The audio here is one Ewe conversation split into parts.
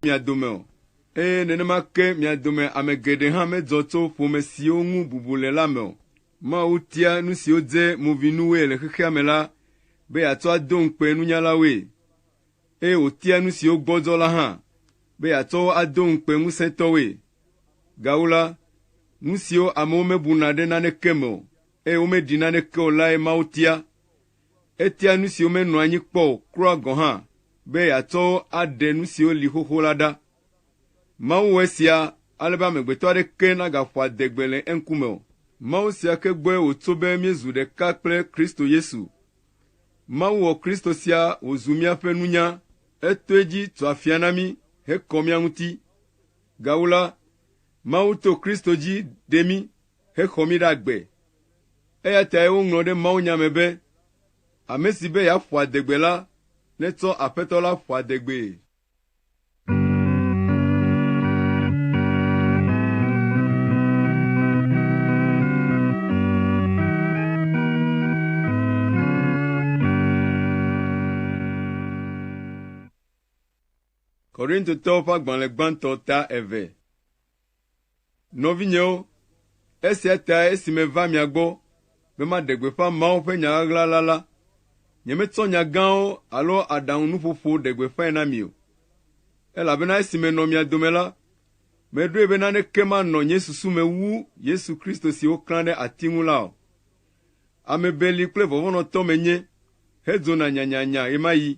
mia dome o, eye nenema ke mia dome ame geɖe hã medzɔ tso ƒome siwo ŋu bubu le la me o. Mawu tia nu siwo dze movinuwoe le xexea me la be yeatsɔ ado ŋukpe nunyalawoe, eye wòtia nu siwo gbɔdzɔ la hã be yeatsɔ wo ado ŋukpe ŋusẽtɔwoe. Gawu la, nu siwo amewo mebuna ɖe naneke me o, eye womeɖi naneke o lae Mawu tia. Etia nu siwo menɔ anyi kpɔ o kura gɔ̃ hã be yeatsɔ wo aɖe nu siwo li xoxo la ɖa. Mawu wɔ esia ale be amegbetɔ aɖeke nagaƒo adegbe le eŋkume o. Mawu sia ke gbɔe wòtso be míezu ɖeka kple Kristo Yesu. Mawu wɔ Kristo sia wòzu míaƒe nunya, etɔe dzi tu afia na mí hekɔ mía ŋuti. Gawu la, Mawu to Kristo dzi ɖe mí hexɔ mí ɖe agbe. Eya tae woŋlɔ ɖe mawunya me be, Ame si be yeaƒo adegbe la, netsɔ Aƒetɔ la ƒo adegbee. Korintotɔwo ƒe agbalẽ gbãtɔ ta eve. Nɔvinyewo, esia tae esi meva mia gbɔ be maɖe gbeƒã Mawu ƒe nya ɣaɣla la la, nyemetsɔ nya gãwo alo aɖaŋunuƒoƒo ɖe gbeƒãe na mi o. Elabena esi menɔ mia dome la, meɖoe be naneke manɔ nye susu me wu Yesu Kristo si woklã ɖe ati ŋu la o. Ame beli kple vɔvɔ̃nɔtɔ menye hedzona nyanyanya ɣemaɣi.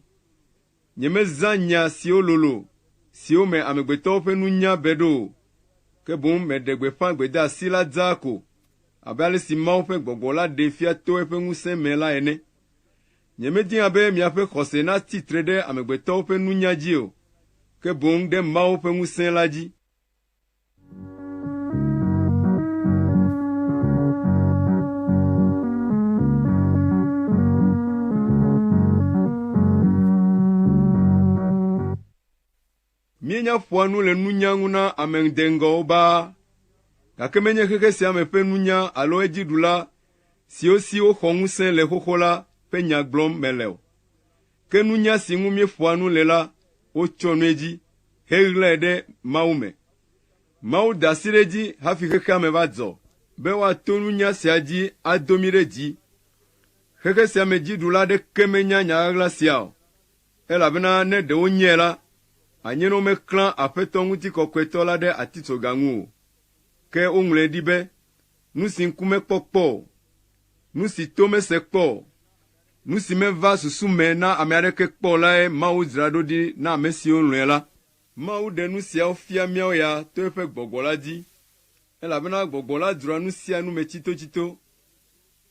Nyemezã nya siwo lolo, siwo me amegbetɔwo ƒe nunya be ɖo o, ke boŋ meɖe gbeƒã gbedeasi la dzaa ko, abe ale si Mawu ƒe gbɔgbɔ la ɖee fia to eƒe ŋusẽ me la ene. Nyemedina be miaƒe xɔse natsi tre ɖe amegbetɔwo ƒe nunya dzi o, ke boŋ ɖe Mawu ƒe ŋusẽ la dzi. Míenya ƒoa nu le nunya ŋu na ame ŋdeŋgɔwo baa, gake menye xexe sia me ƒe nunya alo edziɖula siwo si woxɔ ŋusẽ le xoxo la ƒe nya gblɔm mele o. Ke nunya si ŋu míeƒoa nu le la, wotsyɔ nu edzi heɣlae ɖe Mawu me. Mawu da asi ɖe edzi hafi xexea me va dzɔ, be woato nunya sia dzi ado mí ɖe dzi. Xexe sia me dziɖula aɖeke menya nya ɣaɣla sia o, elabena ne ɖe wonyae la, anye ne womeklã Aƒetɔ Ŋutikɔkɔetɔ la ɖe atitsoga ŋu o. Ke woŋlɔe ɖi be, Nu si ŋku mekpɔ kpɔ o, nu si to mese kpɔ o, Nu si meva susu me na ame aɖeke kpɔ o lae Mawu dzra ɖo ɖi na ame siwo lɔ̃e la. Mawu ɖe nu siawo fia míawo ya to eƒe gbɔgbɔ la dzi, elabena gbɔgbɔ la dzroa nu sia nu me tsitotsito.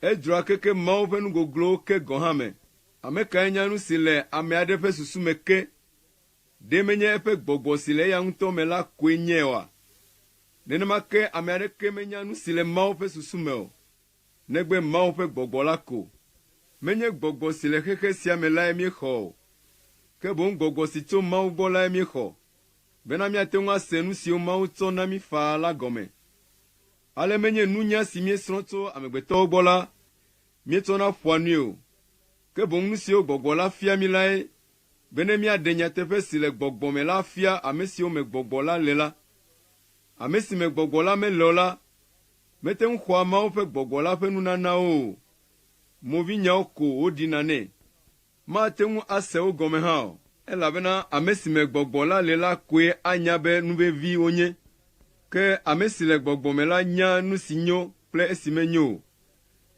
Edzroa keke Mawu ƒe nu goglowo ke gɔ̃ hã me. Ame kae nya nu si le ame aɖe ƒe susu me ke? Ɖe menye eƒe gbɔgbɔ si le eya ŋutɔ me la koe nyae oa? Nenema ke ame aɖeke menya nu si le Mawu ƒe susu me o. negbe Mawu ƒe gbɔgbɔ la ko. Menye gbɔgbɔ si le xexe sia me lae míexɔ o, ke boŋ gbɔgbɔ si tso Mawu gbɔ lae míexɔ, bena míate ŋu ase nu siwo Mawu tsɔ na mí faa la gɔme. Ale menye nunya si míesrɔ̃ tso amegbetɔwo gbɔ la míetsɔna ƒoa nui o, ke boŋ nu siwo gbɔgbɔ la fia mí lae, be ne míaɖe nyateƒe si le gbɔgbɔ me la afia ame siwo me gbɔgbɔ la le la. Ame si me gbɔgbɔ la mele o la, Mete ŋu xɔa Mawu ƒe gbɔgbɔ la ƒe nunanawo o, movinyawo ko woɖina nɛ. Mate ŋu ase wo gɔme hã o. Elabena ame si me gbɔgbɔ la le la koe anya be nu vevi wonye. Ke ame si le gbɔgbɔ me la nya nu si nyo kple esi menyo o.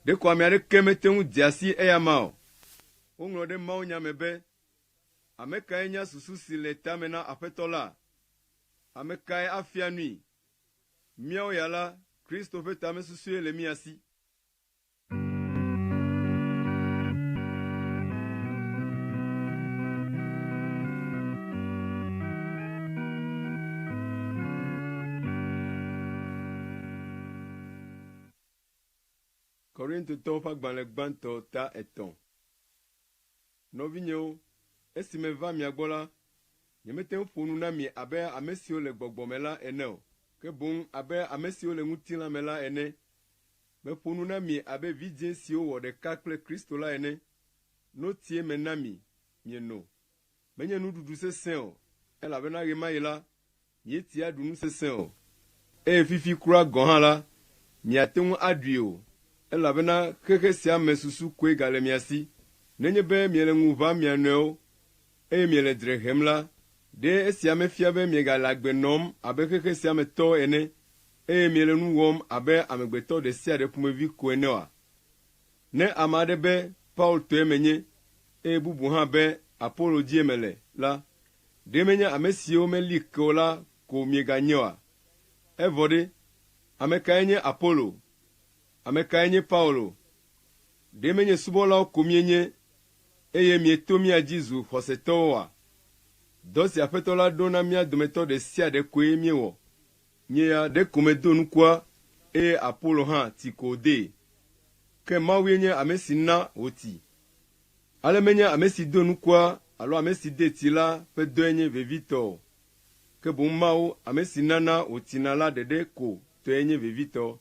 Ɖeko ame aɖeke mete ŋu dea si eyama o. Woŋlɔ ɖe mawunya me be, Ame kae nya susu si le tame na Aƒetɔ la? Ame kae afia nui? Míawo ya la, Kristo ƒe tamesusue le mía si. Korintotɔwo ƒe agbalẽ gbãtɔ ta etɔ̃. Nɔvinyewo, esi meva mia gbɔ la, nyemete ŋu ƒo nu na mi abe ame siwo le gbɔgbɔ me la ene o, ke boŋ abe ame siwo le ŋutilã me la ene. Meƒo nu na mi abe vidzĩ siwo wɔ ɖeka kple Kristo la ene. Notie mena mi mieno. Menye nuɖuɖu sesẽ o, elabena ɣemaɣi la, Míetia ɖu nu sesẽ o, eye fifi kura gɔ̃ hã la, miate ŋu aɖui o, elabena xexe sia me susu koe gale mia si. Nenye be miele ŋu ʋãm mia nɔewo, eye miele dzre hem la, ɖe esia mefia be miegale agbe nɔm abe xexe sia me tɔwo ene, eye miele nu wɔm abe amegbetɔ ɖe sia ɖe ƒomevi ko ene oa? Ne ame aɖe be Paulo tɔe menye, eye bubu hã be Apolo dzie mele la, ɖe menye ame siwo meli ke o la ko mieganye oa? Evɔ ɖe, ame kae nye Apolo? Ame kae nye Paulo? Ɖe menye subɔlawo ko mienye, eye mieto mía dzi zu xɔsetɔwo oa? Dɔ si Aƒetɔ la ɖo na mía dometɔ ɖe sia ɖe koe míewɔ. Nye ya ɖeko medo nukua, eye Apolo hã ti ko wòdee, ke Mawue nye ame si na wòti. Ale menye ame si do nukua alo ame si dee ti la ƒe dɔe nye vevitɔ o, ke boŋ Mawu, ame si nana wòtina la ɖeɖe ko tɔe nye vevitɔ.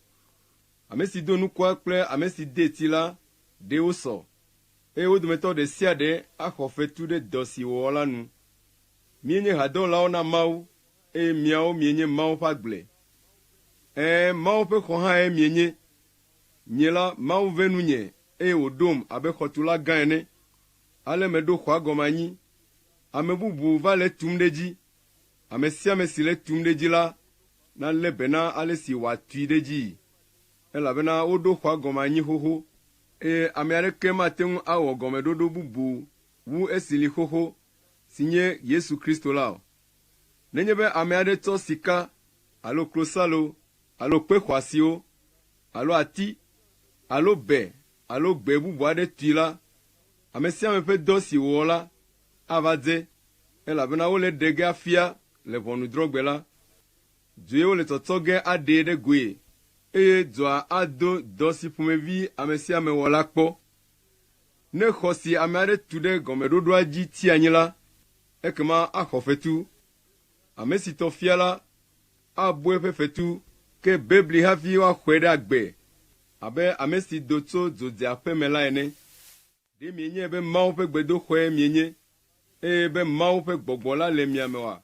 Ame si do nukua kple ame si dee ti la, ɖee wosɔ, eye wo dometɔ ɖe sia ɖe axɔ fetu ɖe dɔ si wòwɔ la nu. Míenye hadɔwɔlawo na Mawu, Eye miawo mienye Mawu ƒe agble. Ɛ̃, Mawu ƒe xɔ hãe mienye. Nyee la, Mawu ve nunye, eye wòɖom abe xɔtula gã ene. Ale meɖo xɔa gɔme anyi. Ame bubu va le etum ɖe edzi. Ame sia ame si le etum ɖe edzi la, nalé be na ale si wòatui ɖe edzii, elabena woɖo xɔa gɔme anyi xoxo. Eye ame aɖeke mate ŋu awɔ gɔmeɖoɖo bubu wu esi li xoxo, si nye Yesu Kristo la o. Nenye be ame aɖe tsɔ sika alo klosalo alo kpe xɔasiwo alo ati alo be alo gbe bubu aɖe tui la, ame sia ame ƒe dɔ si wòwɔ la ava dze, elabena wole ɖe ge afia le ʋɔnudrɔ̃gbe la. Due wole tsɔtsɔ ge aɖee ɖe goe, eye dɔa ado dɔ si ƒomevi ame sia ame wɔ la kpɔ. Ne xɔ si ame aɖe tu ɖe gɔmeɖoɖoa dzi ti anyi la, ekema axɔ fetu. Ame si tɔ fia la, abu eƒe fetu ke bebli hafi woaxɔe ɖe agbe, abe ame si do tso dzo dze aƒe me la ene. Ɖe mienyae be Mawu ƒe gbedoxɔe mienye, eye be Mawu ƒe gbɔgbɔ la le mia me oa?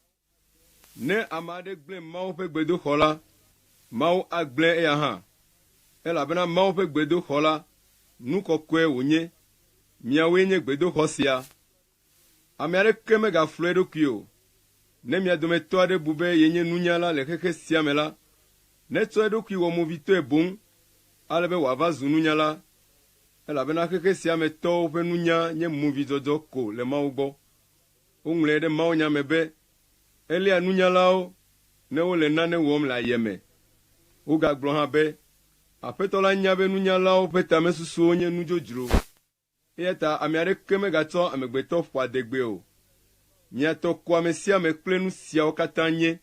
Ne ame aɖe gblẽ Mawu ƒe gbedoxɔ la, Mawu agblẽe eya hã, elabena Mawu ƒe gbedoxɔ la, nu kɔkɔe wònye. Miawoe nye gbedoxɔ sia. Ame aɖeke megaflɔe eɖokui o. Ne mia dometɔ aɖe bu be yenye nunyala le xexe sia me la, netsɔ eɖokui wɔ movitɔe boŋ ale be wòava zu nunyala, elabena xexe sia me tɔwo ƒe nunya nye movidɔdɔ ko le Mawu gbɔ. Woŋlɔe ɖe mawunya me be, Eléa nunyalawo ne wole nane wɔm le ayeme. Wogagblɔ hã be, Aƒetɔ la nya be nunyalawo ƒe tamesusuwo nye nu dzodzro, eya ta ame aɖeke megatsɔ amegbetɔ ƒoa adegbee o. Mia tɔ ko amesiame kple nu siawo katã nye.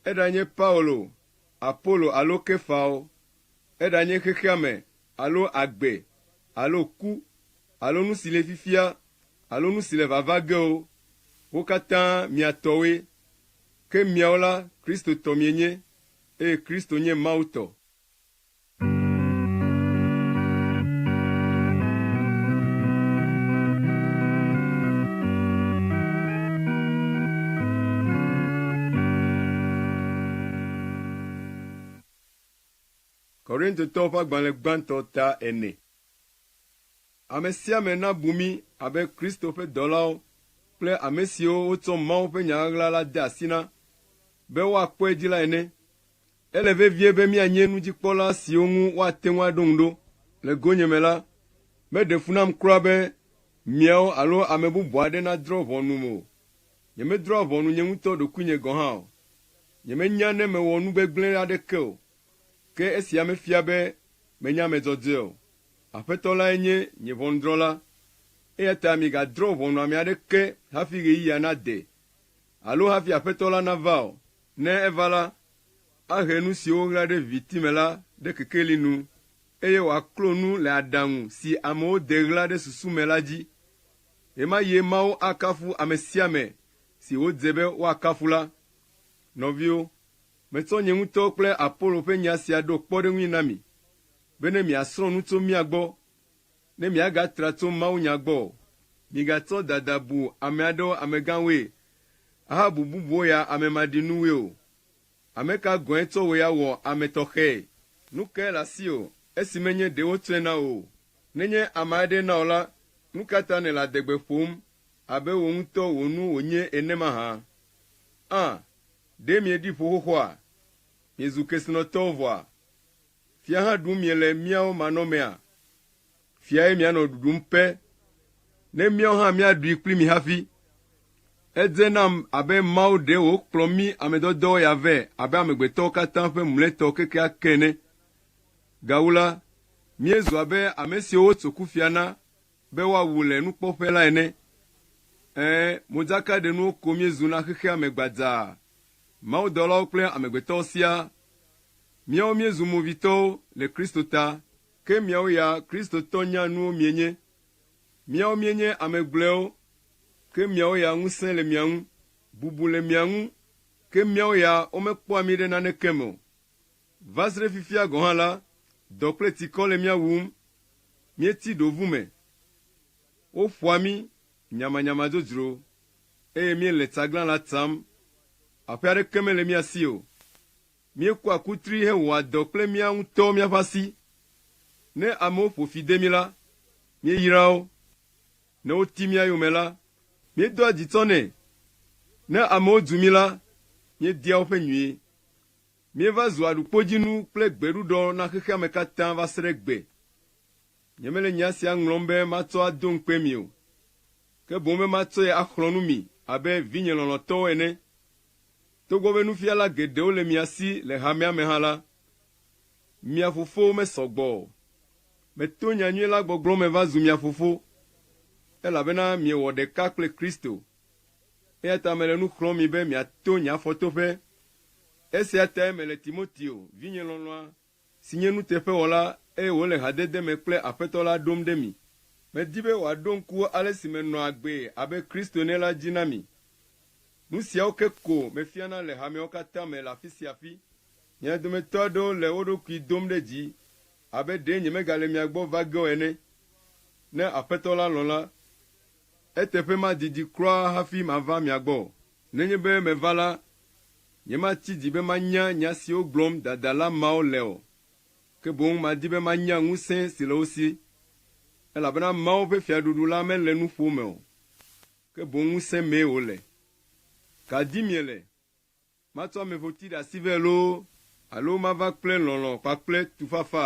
Eɖanye Paulo, Apolo alo Kefawo, eɖanye xexeame alo agbe, alo ku, alo nu si le fifia, alo nu si le vava ge o, wo katã mia tɔwoe. Ke miawo la, Kristo tɔ mienye, eye Kristo nye Mawu tɔ. Korintotɔwo ƒe agbalẽ gbãtɔ ta ene. Ame sia ame nabu mí abe Kristo ƒe dɔlawo kple ame siwo wotsɔ Mawu ƒe nya ɣaɣla la de asi na be woakpɔe dzi la ene. Ele vevie be míanye nudzikpɔla siwo ŋu woate ŋu aɖo ŋu ɖo. Le gonyeme la, meɖe fu nam kura be miawo alo ame bubu aɖe nadrɔ̃ ʋɔnum o. Nyemedrɔ̃a ʋɔnu nye ŋutɔ ɖokuinye gɔ̃ hã o. Nyemenya ne mewɔ nu gbegblẽ aɖeke o. Ke esia mefia be menye ame dzɔdzɔe o. Aƒetɔ lae nye nye ʋɔnudrɔ̃la, eya ta migadrɔ̃ ʋɔnu ame aɖeke hafi ɣeyiɣia nade, alo hafi Aƒetɔ la nava o. Ne eva la, ahe nu siwo woɣla ɖe viviti me la ɖe kekeli nu, eye wòaklo nu le aɖaŋu si amewo de ɣla ɖe susu me la dzi. Ɣemaɣie Mawu akafu ame sia ame si wòdze be woakafu la. Nɔviwo. Metsɔ nye ŋutɔ kple Apolo ƒe nya sia ɖo kpɔɖeŋui na mi, be ne miasrɔ̃ nu tso mía gbɔ, ne miagatra tso mawunya gbɔ o. Migatsɔ dada bu ame aɖewo amegãwoe, ahabu bubuwo ya ame maɖinuwoe o. Ame ka gɔ̃e tsɔ wòe awɔ ame tɔxɛe? Nu kae le asiwò, esi menye ɖe wotsɔe na wò o? Nenye ame aɖee na wò la, nu ka ta nèle adegbe ƒom abe wò ŋutɔ wò nu wònye ene mahã? Ã! Ɖe mieɖi ƒo xoxoa? Miezu kesinɔtɔwo vɔa? Fia hã ɖum miele míawo manɔmea? Fiae mianɔ ɖuɖum pe, ne míawo hã míaɖui kpli mi hafi. Edze nam abe Mawu ɖee wòkplɔ mí ame dɔdɔwo ya vɛ abe amegbetɔwo katã ƒe mlɔetɔ kekeake ene. Gawu la, míezu abe ame siwo wotso kufia na. Be woawu le nukpɔƒe la ene. Ẽ, modzakaɖenuwo ko míezu na xexea me gbadzaa, mawudɔlawo kple amegbetɔwo siaa. Míawo míezu movitɔwo le Kristo ta. Ke miawo ya Kristotɔ nyanuwo mienye. Míawo míenye ame gblɔewo, ke miawo ya ŋusẽ le mia ŋu, bubu le mia ŋu, ke míawo ya womekpɔa mí ɖe naneke me o. Va srɖe fifia gɔ̃ hã la, dɔ kple tsikɔ le mía wum. Míeti ɖo ʋu me. Woƒoa mí nyamanyama dzodzro, eye míele tsaglan la tsam. Aƒe aɖeke mele mía si o. Míekua kutri hewɔa dɔ kple mía ŋutɔwo míaƒe asi. Ne amewo ƒo fi de mí la, míeyraa wo. Ne woti mía yome la, míedoa dzi tsɔnɛ. Ne amewo dzu mí la, míedia woƒe nyui. Míeva zu aɖukpodzinu kple gbeɖuɖɔ na xexeame katã va se ɖe egbe. Nyemele nya sia ŋlɔm be matsɔ ado ŋukpe mi o, ke boŋ be matsɔe axlɔ̃ nu mi abe vinye lɔlɔ̃tɔwo ene. Togbɔ be nufiala geɖewo le mia si le hamea me hã la, mia fofowo mesɔ gbɔ o. Meto nyanyui la gbɔgblɔ me va zu mia fofo, elabena miewɔ ɖeka kple Kristo. Eya ta mele nu xlɔ̃m mi be miato nye afɔtoƒe Esia tae mele Timoteo, vinye lɔlɔ̃a, si nye nuteƒewɔla, eye wòle hadede me kple Aƒetɔ la ɖom ɖe mi. Medi be wòaɖo ŋku ale si menɔa agbee abe Kristo ene la dzi na mi. Nu siawo ke ko mefiana le hameawo katã me le afi sia afi. Mia dometɔ aɖewo le wo ɖokui dom ɖe dzi abe ɖee nyemegale mia gbɔ va ge o ene. Ne Aƒetɔ la lɔ̃ la, eteƒe madidi kura hafi mava mia gbɔ o. Nenye be meva la, Nyemati dzi be manya nya siwo gblɔm dadala mawo le o, ke boŋ madi be manya ŋusẽ si le wo si, elabena Mawu ƒe Fiaɖuɖu la mele nuƒo me o, ke boŋ ŋusẽ mee wòle. Ka dim miele? Matsɔ ameƒoti ɖe asi vɛ loo alo mava kple lɔlɔ̃ kpakple tufafa?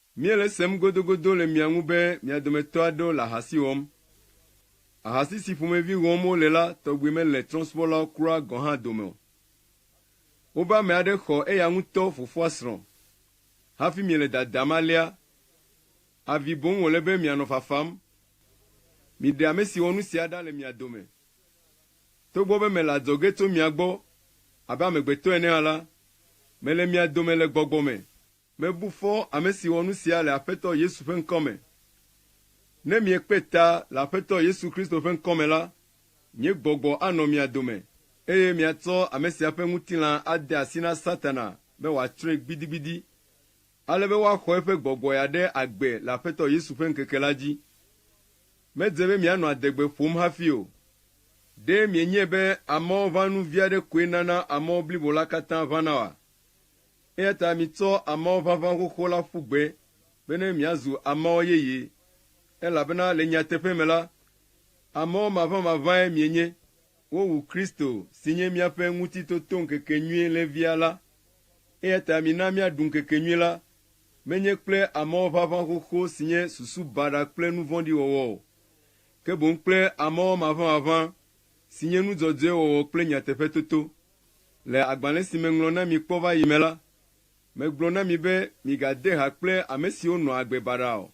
Míele esem godogodo le mia ŋu be mia dometɔ aɖewo le ahasi wɔm. Ahasi si ƒomevi wɔm wole la tɔgbi mele trɔ̃subɔlawo kura gɔ̃ hã dome o. Wobe ame aɖe xɔ eya ŋutɔ fofoa srɔ̃. Hafi miele dadam alea, avi boŋ wòle be mianɔ fafam. Miɖe ame si wɔ nu sia ɖa le mia dome. Togbɔ be mele adzɔge tso mia gbɔ abe amegbetɔ ene hã la, mele mia dome le gbɔgbɔ me. Mebu fɔ ame si wɔ nu sia le Aƒetɔ Yesu ƒe ŋkɔ me. Ne miekpe ta le Aƒetɔ Yesu Kristo ƒe ŋkɔ me la, nye gbɔgbɔ anɔ mia dome, eye miatsɔ ame sia ƒe ŋutilã ade asi na Satana be wòatsrɔ̃e gbidigbidi, ale be woaxɔ eƒe gbɔgbɔe aɖe agbe le Aƒetɔ Yesu ƒe ŋkeke la dzi. Medze be mianɔ adegbe ƒom hafi o. Ɖe mienyae be amɔʋãnu vi aɖe koe nana amɔ blibo la katã ʋãna oa? Eya ta mitsɔ amɔ ʋaʋã xoxo la ƒu gbe bene miazu amɔ yeye, elabena le nyateƒe me la, amɔ maʋãmaʋãe mienye. Wowu Kristo, si nye míaƒe Ŋutitotoŋkekenyui Lévia la. Eya ta mina míaɖu ŋkekenyui la, menye kple amɔ ʋaʋã xoxo si nye susu baɖa kple nu vɔ̃ɖi wɔwɔ o, ke boŋ kple amɔ maʋãmaʋã, si nye nu dzɔdzɔe wɔwɔ kple nyateƒetoto. Le agbalẽ si meŋlɔ na mi kpɔ va yi me la, megblɔ na mi be migade ha kple ame siwo nɔa agbe baɖa o,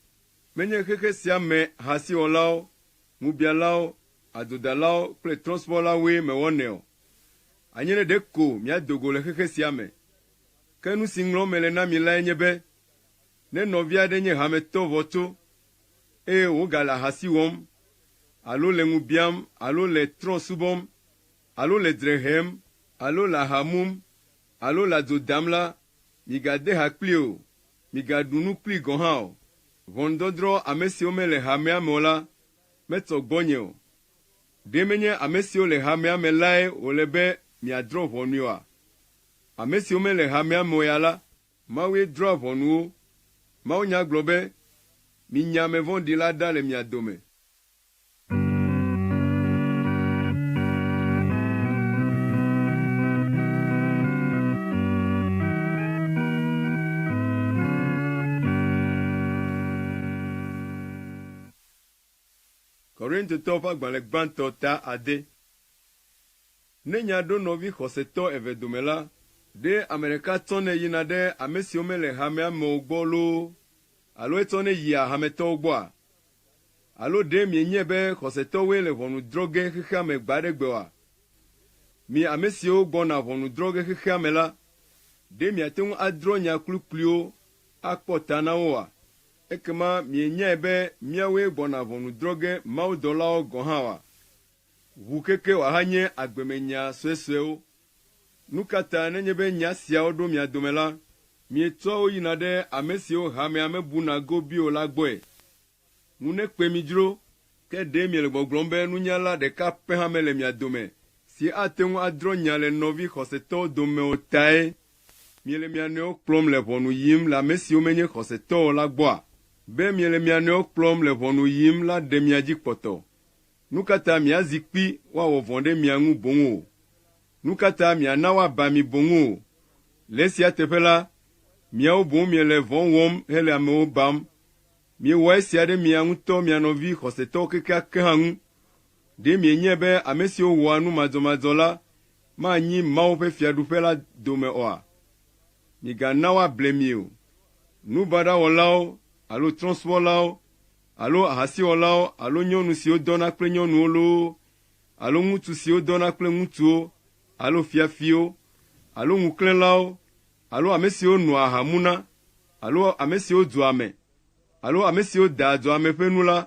menye xexe sia me hasewɔlawo, ŋubialawo, adzodalawo kple trɔ̃subɔlawoe mewɔnɛ o. Anye ne ɖe ko miado go le xexe sia me. Ke nu si ŋlɔm mele na mi lae nye be, ne nɔvi aɖe nye hametɔ vɔ̃tso, eye wògale ahasi wɔm alo le ŋu biam alo le trɔ̃ subɔm, alo le dzre hem alo le aha mum alo le adzo dam la, migade ha kplii o, migaɖu nu kplii gɔ̃ hã o. Ʋɔnudɔdrɔ̃ ame siwo mele hamea me o la metsɔ gbɔnye o. Ɖe menye ame siwo le hamea me lae wòle be miadrɔ̃ ʋɔnui oa? Ame siwo mele hamea me o ya la, Mawue drɔ̃a ʋɔnu wo. Mawunya gblɔ be, Minya ame vɔ̃ɖi la ɖa le mia dome. Korintotɔwo ƒe agbalẽ gbãtɔ ta ade. Ne nya ɖo nɔvi xɔsetɔ eve dome la, ɖe ame ɖeka tsɔnɛ yina ɖe ame siwo mele hamea me o gbɔ loo alo etsɔnɛ yia hametɔwo gbɔa? Alo ɖe mienyae be xɔsetɔwoe le ʋɔnu drɔ̃ ge xexea me gbe aɖe gbe oa? Mi ame siwo gbɔna ʋɔnu drɔ̃ ge xexea me la, ɖe miate ŋu adrɔ̃ nya kplikpliwo akpɔ ta na wo oa? Ekema mienyae be míawoe gbɔna ʋɔnu drɔ̃ ge mawudɔlawo gɔ̃ hã oa? Ʋu keke wòahanye agbemenya suesuewo. Nu ka ta nenye be nya siawo ɖo mia dome la, mietsɔa wo yina ɖe ame siwo hamea mebuna go bi o la gbɔe? Ŋu nekpe mi dzro, ke ɖe miele gbɔgblɔm be nunyala ɖeka pɛ hã mele mia dome si ate ŋu adrɔ̃ nya le nɔvi xɔsetɔwo dome o tae miele mia nɔewo kplɔm le ʋɔnu yim le ame siwo menye xɔsetɔ o la gbɔa? Be miele mia nɔewo kplɔm le ʋɔnu yim la ɖe mia dzi kpɔtɔ. Nu ka ta miazi kpi woawɔ vɔ̃ ɖe mia ŋu boŋ o? Nu ka ta miana woaba mi boŋ o? Le esia teƒe la, miawo boŋ miele vɔ̃ wɔm hele amewo bam, Miewɔ esia ɖe mia ŋutɔ mia nɔvi xɔsetɔwo kekeake hã ŋu. Ɖe mienyae be ame siwo wɔa nu madzɔmadzɔ la manyi Mawu ƒe Fiaɖuƒe la dome oa? Migana woable mi o. Nu baɖa wɔlawo alo trɔ̃subɔlawo alo ahasiwɔlawo alo nyɔnu siwo dɔna kple nyɔnuwo loo alo ŋutsu siwo dɔna kple ŋutsuwo alo fiafiwo alo ŋuklẽlawo alo ame siwo noa aha muna alo ame siwo dzua ame, alo ame siwo dea dzɔa ame ƒe nu la,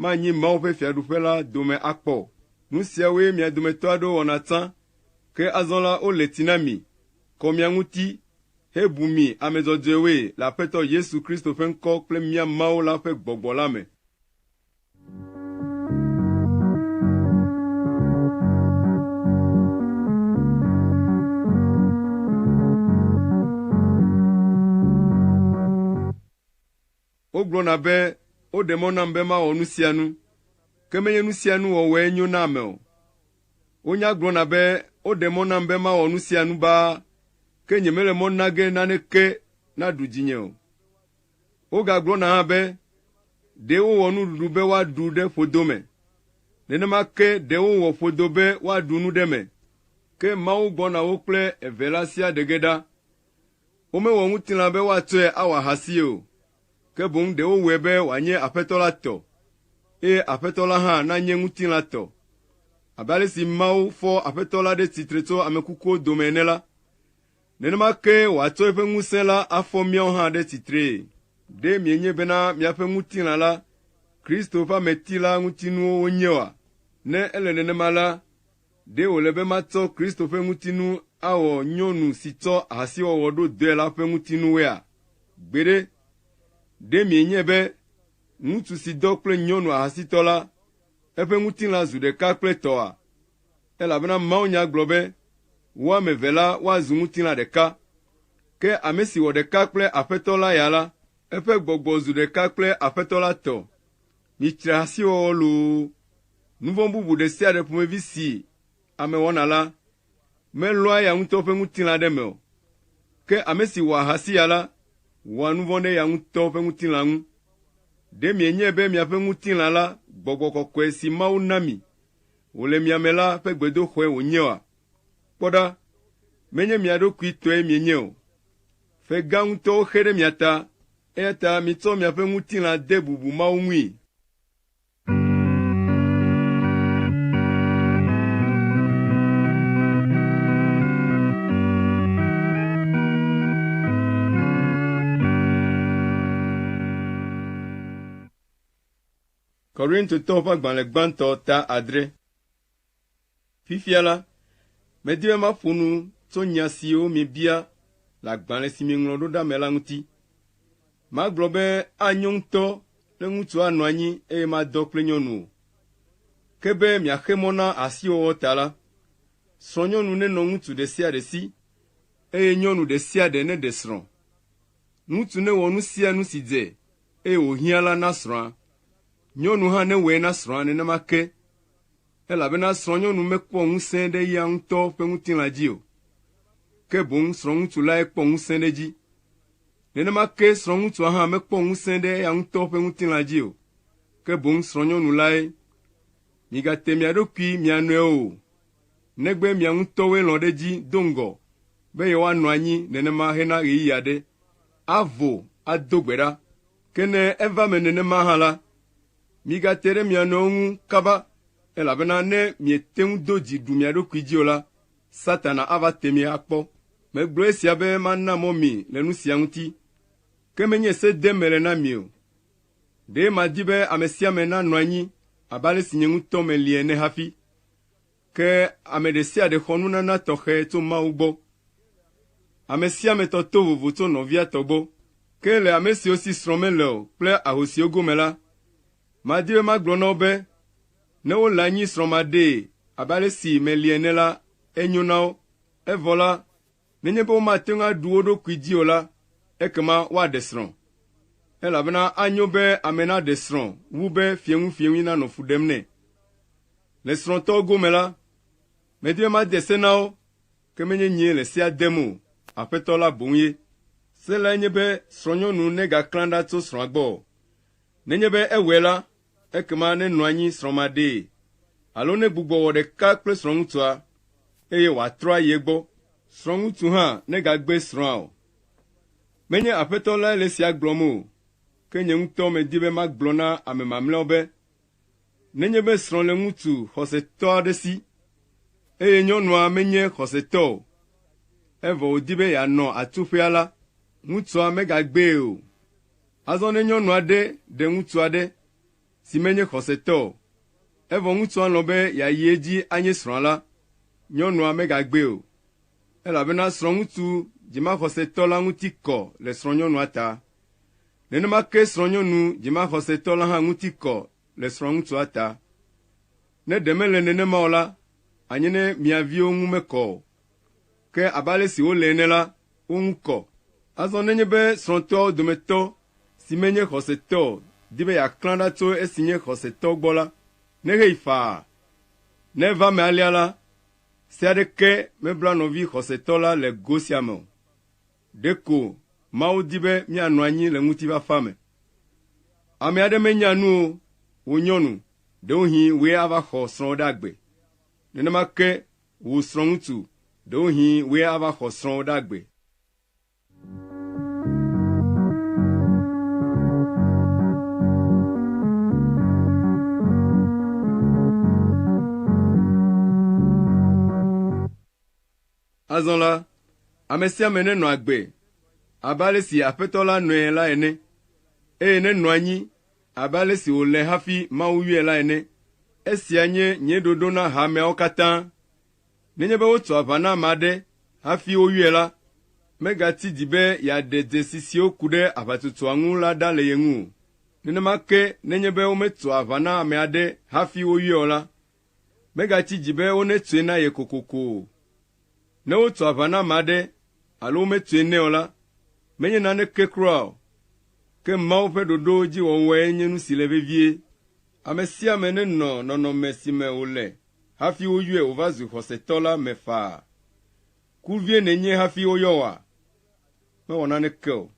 manyi Mawu ƒe Fiaɖuƒe la dome akpɔ o. Nu siawoe mia dometɔ aɖewo wɔna tsã, ke azɔ la, wole tsi na mi, kɔ mia ŋuti, hebu mi ame dzɔdzɔewoe le Aƒetɔ Yesu Kristo ƒe ŋkɔ kple mía Mawu la ƒe gbɔgbɔ la me. Wogblɔna be woɖe mɔ nam be mawɔ nu sia nu, ke menye nu sia nu wɔwɔe nyo na ame o. Wonya gblɔna be woɖe mɔ nam be mawɔ nu sia nu baa, ke nyemele mɔ nage naneke naɖu dzinye o. Wogagblɔna hã be ɖee wowɔ nuɖuɖu be woaɖu ɖe ƒodo me. Nenema ke ɖee wowɔ ƒodo be woaɖu nu ɖe eme. Ke Mawu gbɔna wo kple eve la sia ɖe ge ɖa. Womewɔ ŋutilã be woatsɔe awɔ ahasie o, ke boŋ ɖe wowɔe be wòanye Aƒetɔ la tɔ, eye Aƒetɔ la hã nanye ŋutilã tɔ. Abe ale si Mawu fɔ Aƒetɔ la ɖe tsitre tso ame kukuwo dome ene la, Nenema kee wòatsɔ eƒe ŋusẽ la afɔ míawo hã ɖe tsitree. Ɖe mienye bena miaƒe ŋutilã la, Kristo ƒe ameti la ŋutinuwo wonye oa? Ne ele nenema la, ɖe wòle be matsɔ Kristo ƒe ŋutinu awɔ nyɔnu si tsɔ ahasiwɔwɔ ɖo dɔe la ƒe ŋutinuwoea? Gbeɖe! Ɖe mienye be ŋutsu si dɔ kple nyɔnu ahasitɔ la, eƒe ŋutilã zu ɖeka kple tɔa? Elabena mawunya gblɔ be, Wo ame eve la woazu ŋutilã ɖeka. Ke ame si wɔ ɖeka kple Aƒetɔ la ya la, eƒe gbɔgbɔ zu ɖeka kple Aƒetɔ la tɔ. Mitsri ahasiwɔwɔ loo, nu vɔ̃ bubu ɖe sia ɖe ƒomevi si ame wɔna la, melɔa eya ŋutɔ ƒe ŋutilã ɖe eme o. Ke ame si wɔ ahasi ya la, wɔa nu vɔ̃ ɖe eya ŋutɔ ƒe ŋutilã ŋu. Ɖe mienyae be miaƒe ŋutilã la gbɔgbɔ kɔkɔe si Mawu na mi wòle mia me la ƒe gbedoxɔe wònye oa? Kpɔ ɖa, menye mia ɖokui tɔe mienye o. Fe gã ŋutɔwo xe ɖe mia ta, eya ta mitsɔ miaƒe ŋutilã de bubu mawo ŋui. Korintotɔwo ƒe agbalẽ gbãtɔ ta adre. Fifia la, medi be maƒo nu tso nya siwo miebia le agbalẽ si mieŋlɔ ɖo ɖa me la ŋuti. Magblɔ be anyo ŋutɔ ne ŋutsu anɔ anyi eye madɔ kple nyɔnu o. Ke be miaxe mɔ na ahasiwɔwɔ ta la, srɔ̃nyɔnu nenɔ ŋutsu ɖe sia ɖe si, eye nyɔnu ɖe sia ɖe neɖe srɔ̃. Ŋutsu newɔ nu sia nu si dze eye wòhiã la na srɔ̃a. Nyɔnu hã newɔe na srɔ̃a nenema ke, elabena srɔ̃nyɔnu mekpɔ ŋusẽ ɖe eya ŋutɔ ƒe ŋutilã dzi o, ke boŋ srɔ̃ŋutsu lae kpɔ ŋusẽ ɖe edzi. Nenema ke srɔ̃ŋutsua hã mekpɔ ŋusẽ ɖe eya ŋutɔ ƒe ŋutilã dzi o, ke boŋ srɔ̃nyɔnu lae. Migate mia ɖokui mia nɔewo o, negbe mia ŋutɔwoe lɔ̃ ɖe edzi do ŋgɔ be yewoanɔ anyi nenema hena ɣeyiɣi aɖe, avo ado gbe ɖa. Ke ne eva eme nenema hã la, migate ɖe mia nɔewo ŋu kaba, elabena ne miete ŋu do dzi ɖu mia ɖokui dzi o la, Satana ava te mi akpɔ. Megblɔ esia be mana mɔ mi le nu sia ŋuti, ke menye se dem mele na mi o. Ɖe madi be ame sia ame nanɔ anyi abe ale si nye ŋutɔ meli ene hafi Ke ame ɖe sia ɖe xɔ nunana tɔxɛ tso Mawu gbɔ. Ame sia ame tɔ to vovo tso nɔvia tɔ gbɔ. Ke le ame siwo si srɔ̃ mele o kple ahosiwo gome la, madi be magblɔ na wo be, ne wole anyi srɔ̃maɖee abe ale si meli ene la, enyo na wo. Evɔ la, Nenye be womate ŋu aɖu wo ɖokui dzi o la, ekema woaɖe srɔ̃. Elabena anyo be ame naɖe srɔ̃ wu be fieŋuifieŋui nanɔ fu ɖem nɛ. Le srɔ̃tɔwo gome la, medi be made se na wo, ke menye nyee le sea dem o, Aƒetɔ la boŋue. Se lae nye be srɔ̃nyɔnu negaklã ɖa tso srɔ̃a gbɔ o, nenye be ewɔe la, Ekema nenɔ anyi srɔ̃maɖee alo negbugbɔ wɔ ɖeka kple srɔ̃ŋutsua, eye wòatrɔ ayi egbɔ. Srɔ̃ŋutsu hã negagbe srɔ̃a o. Menye Aƒetɔ lae le esia gblɔm o, ke nye ŋutɔ medi be magblɔ na ame mamlɛawo be, Nenye be srɔ̃ le ŋutsu xɔsetɔ aɖe si, eye nyɔnua menye xɔsetɔ o, evɔ wòdi be yeanɔ atsuƒea la, ŋutsua megagbee o, Azɔ ne nyɔnu aɖe ɖe ŋutsu aɖe, si menye xɔsetɔ o, evɔ ŋutsua lɔ̃ be yeayi edzi anye srɔ̃a la, nyɔnua megagbee o, elabena srɔ̃ŋutsu dzimaxɔsetɔ la ŋuti kɔ le srɔ̃nyɔnua ta. Nenema ke srɔ̃nyɔnu dzimaxɔsetɔ la hã ŋuti kɔ le srɔ̃ŋutsua ta. Ne ɖe mele nenema o la, anye ne mia viwo ŋu mekɔ o. Ke abe ale si wolée ene la, wo ŋu kɔ. Azɔ nenye be srɔ̃tɔawo dometɔ si menye xɔsetɔ o di be yeaklã ɖa tso esi nye xɔsetɔ gbɔ la, neheyi faa. Ne eva eme alea la, se aɖeke mebla nɔvi xɔsetɔ la le go sia me o. Ɖeko Mawu di be míanɔ anyi le ŋutifafa me. Ame aɖe menya nu o, wò nyɔnu, ɖewohĩ wòe ava xɔ srɔ̃wò ɖe agbe. Nenema ke wò srɔ̃ŋutsu, ɖewohĩ wòe ava xɔ srɔ̃wò ɖe agbe. Azɔ la, ame sia ame nenɔ agbe abe ale si Aƒetɔ la nɔe la ene, eye nenɔ anyi Abe ale si wòle hafi Mawu yɔe la ene, esia nye nye ɖoɖo na hameawo katã. Nenye be wotso aʋa na ame aɖe hafi woyɔe la, megati dzi be yeaɖe dzesi siwo ku ɖe aʋatsotsoa ŋu la ɖa le ye ŋu o. Nenema ke nenye be wometso aʋa na ame aɖe hafi woyɔe o la, megatsi dzi be wonetsɔe na ye kokoko o. Ne wotso aʋa na ame aɖe alo wometsoe nɛ o la, menye naneke kura o. Ke Mawu ƒe ɖoɖowo dzi wɔwɔe nye nu si le vevie. Ame sia ame nenɔ nɔnɔme si me wòle hafi woyɔe wòva zu xɔsetɔ la me faa. Ku vie nènye hafi woyɔ wòa? Mewɔ naneke o.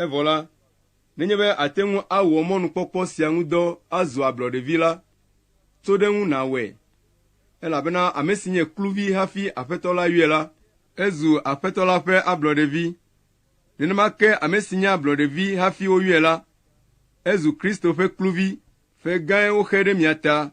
Evɔ la, nenye be àte ŋu awɔ mɔnukpɔkpɔ sia ŋu dɔ azu ablɔɖevi la, tso ɖe eŋu nàwɔe, elabena ame si nye kluvi hafi Aƒetɔ la yɔe la, ezu Aƒetɔ la ƒe ablɔɖevi, nenema ke ame si nye ablɔɖevi hafi woyɔe la, ezu Kristo ƒe kluvi. Ƒe gãe woxe ɖe mia ta.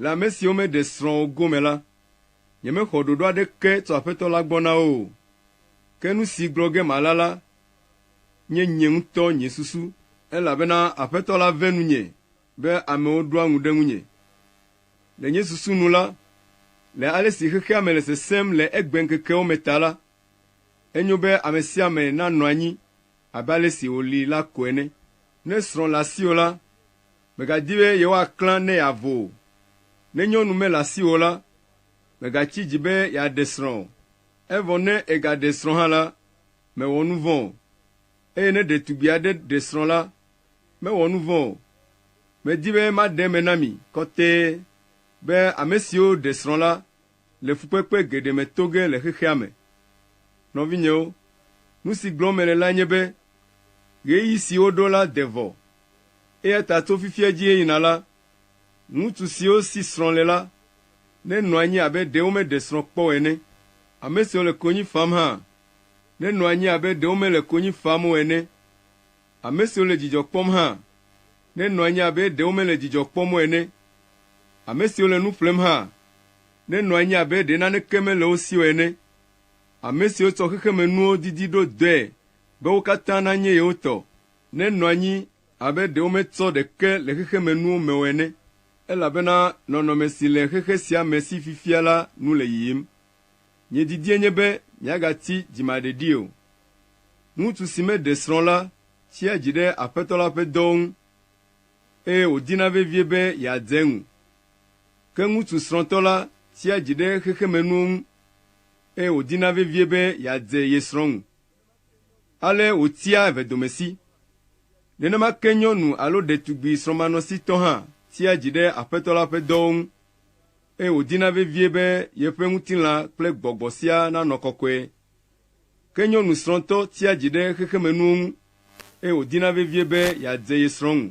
Le ame siwo meɖe srɔ̃ o gome la, nyemexɔ ɖoɖo aɖeke tso Aƒetɔ la gbɔ na wo o, ke nu si gblɔ ge mala la nye nye ŋutɔ nye susu, elabena Aƒetɔ la ve nunye be amewo ɖoa ŋu ɖe ŋunye. Le nye susu nu la, le ale si xexea me le sesẽm le egbeŋkekewo me ta la, enyo be ame sia ame nanɔ anyi abe ale si wòli la ko ene. Ne srɔ̃ le asiwò la, Mègadi be yewoaklã ne yeavo o. Ne nyɔnu mele asiwò o la, mègatsi dzi be yeaɖe srɔ̃ o. Evɔ ne egaɖe srɔ̃ hã la, mewɔ nu vɔ̃ o. Eye ne ɖetugbi aɖe ɖe srɔ̃ la, mewɔ nu vɔ̃ o. Medi be maɖe eme na mi kɔtɛe be ame siwo ɖe srɔ̃ la le fukpekpe geɖe me to ge le xexea me. Nɔvinyewo, nu si gblɔm mele lae nye be ɣeyiɣi si woɖo la de vɔ o. Eya ta tso fifia dzi heyina la, ŋutsu siwo si srɔ̃ le la nenɔ anyi abe ɖe womeɖe srɔ̃ kpɔ o ene. Ame siwo le konyi fam hã nenɔ anyi abe ɖe womele konyi fam o ene. Ame siwo le dzidzɔ kpɔm hã nenɔ anyi abe ɖe womele dzidzɔ kpɔm o ene. Ame siwo le nu ƒlem hã nenɔ anyi abe ɖe naneke mele wo si o ene. Ame siwo tsɔ xexemenuwo didi ɖo dɔe be wo katã nanye yewo tɔ nenɔ anyi abe ɖe wometsɔ ɖeke le xexemenuwo me o ene. Elabena nɔnɔme si le xexe sia me si fifia la nu le yiyim. Nye didie nye be miagati dzimaɖeɖi o. Ŋutsu si meɖe srɔ̃ la tsia dzi ɖe Aƒetɔ la ƒe dɔwo ŋu, eye wòdina vevie be yeadze eŋu. Ke ŋutsu srɔ̃tɔ la tsia dzi ɖe xexemenuwo ŋu, eye wòdina vevie be yeadze ye srɔ̃ ŋu. Ale wòtia evedomesi. Nenema ke nyɔnu alo ɖetugbui srɔ̃manɔsitɔ hã tsia dzi ɖe Aƒetɔ la ƒe dɔwo ŋu. eye wòdina vevie be yeƒe ŋutilã kple gbɔgbɔ siaa nanɔ kɔkɔe. Ke nyɔnu srɔ̃tɔ tia dzi ɖe xexemenuwo ŋu, eye wòdina vevie be yeadze ye srɔ̃ ŋu.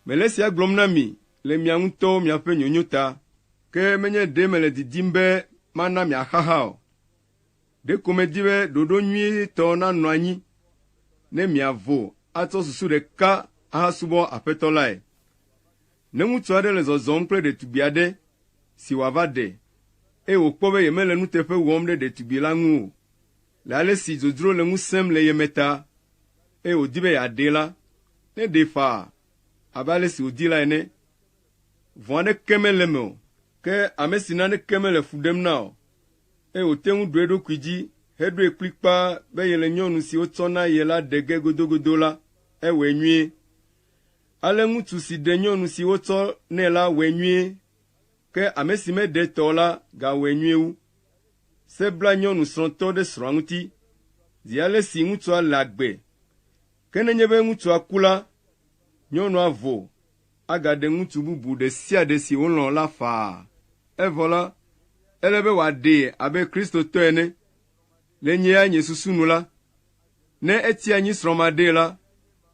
Mele esia gblɔm na mi le mia ŋutɔwo miaƒe nyonyo ta. Ke menye ɖee mele didim be mana miaxaxa o. Ɖeko medi be ɖoɖo nyuitɔ nanɔ anyi ne miavo atsɔ susu ɖeka ahasubɔ Aƒetɔ lae. Ne ŋutsu aɖe le zɔzɔm kple ɖetugbui aɖe si wòava ɖe, eye wòkpɔ be yemele nuteƒe wɔm ɖe ɖetugbui la ŋu o, le ale si dzodzro le ŋu sẽm le ye me ta, eye wòdi be yeaɖee la, neɖee faa abe ale si wòdi la ene. Vɔ̃ aɖeke mele eme o. Ke ame si naneke mele fu ɖem na o, eye wòte ŋu ɖo eɖokui dzi heɖoe kplikpaa be yele nyɔnu si wotsɔ na ye la ɖe ge godogodo la, ewɔe nyuie. Ale ŋutsu si ɖe nyɔnu si wotsɔ nɛ la wɔe nyuie, ke ame si meɖe tɔ o la gawɔe nyuie wu. Se bla nyɔnu srɔ̃tɔ ɖe srɔ̃a ŋuti, zi ale si ŋutsua le agbe. Ke nenye be ŋutsua ku la, nyɔnua vo agaɖe ŋutsu bubu ɖe sia ɖe si wòlɔ̃ la faa. Evɔ la, ele be wòaɖee abe Kristotɔ ene. Le nye ya nye susu nu la, ne eti anyi srɔ̃maɖee la,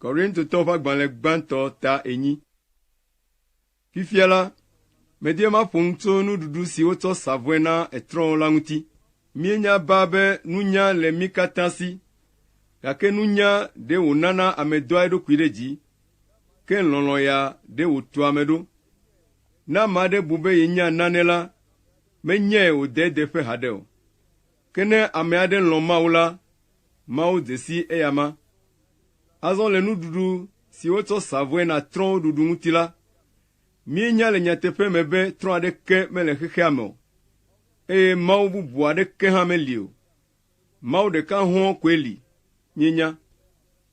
Korintotɔwo ƒe agbalẽ gbãtɔ ta enyi. Fifia la, medie maƒo nu tso nuɖuɖu si wotsɔ sa vɔe na etrɔ̃ la ŋuti. Míenya baa be nunya le mí katã si, gake nunya ɖe wònana ame doa eɖokui ɖe dzi, ke lɔlɔ̃ ya ɖe wòtua ame ɖo. Ne ame aɖe bu be yenya nane la, menyae wòde edeƒe haɖe o. Ke ne ame aɖe lɔ̃ Mawu la, Mawu dze sii eyama. Azɔ le nuɖuɖu si wotsɔ sa vɔe na trɔ̃wo ɖuɖu ŋuti la, míenya le nyateƒe me be trɔ̃ aɖeke mele xexea me o, eye Mawu bubu aɖeke hã meli o. Mawu ɖeka hɔ̃ koe li, míenya.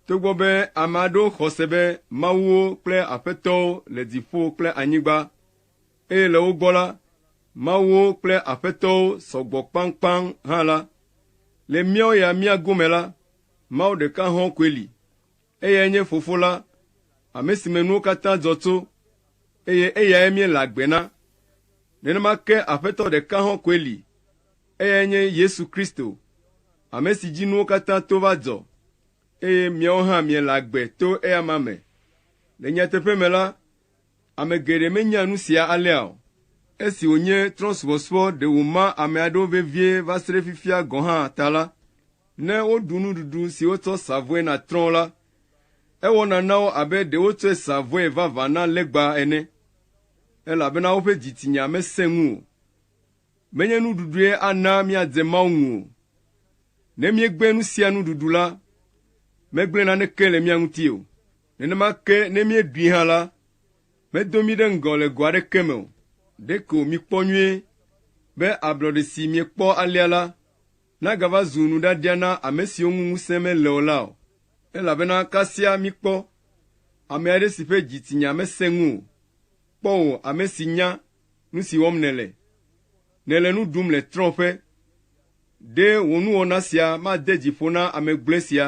Togbɔ be ame aɖewo xɔ se be mawuwo kple aƒetɔwo le dziƒo kple anyigba eye le wo gbɔ la, mawuwo kple aƒetɔwo sɔgbɔ kpaŋkpaŋ hã la, le míawo ya mía gome la, Mawu ɖeka hɔ̃ koe li, eyae nye Fofo la, ame si me nuwo katã dzɔ tso, eye eyae míele agbe na. Nenema ke aƒetɔ ɖeka hɔ̃ koe li, eyae nye Yesu Kristo, ame si dzi nuwo katã to va dzɔ, eye miawo hã miele agbe to eya ma me. Le nyateƒe me la, Ame geɖe menya nu sia alea o. Esi wònye trɔ̃subɔsubɔ ɖe wòma ame aɖewo vevie va se ɖe fifia gɔ̃ hã ta la, ne woɖu nuɖuɖu si wotsɔ sa vɔe na trɔ̃ la, ewɔna na wo abe ɖe wotsɔe sa vɔe vavã na legba ene, elabena woƒe dzitsinya mesẽ ŋu o. Menye nuɖuɖue ana míadze Mawu ŋu o. Ne míegblẽ nu sia nu ɖuɖu la, megblẽ naneke le mía ŋuti o. Nenema ke ne míeɖui hã la, medo mí ɖe ŋgɔ le go aɖeke me o. Ɖeko mikpɔ nyuie be ablɔɖe si miekpɔ alea la nagava zu nuɖaɖia na ame siwo ŋu ŋusẽ mele o la o. Elabena kasia mikpɔ ame aɖe si ƒe dzitsinya mesẽ ŋu o. Kpɔ wò ame si nya nu si wɔm nèle. Nèle nu ɖum le trɔ̃ƒe. Ɖe wò nuwɔna sia made dzi ƒo na ame gblɔe sia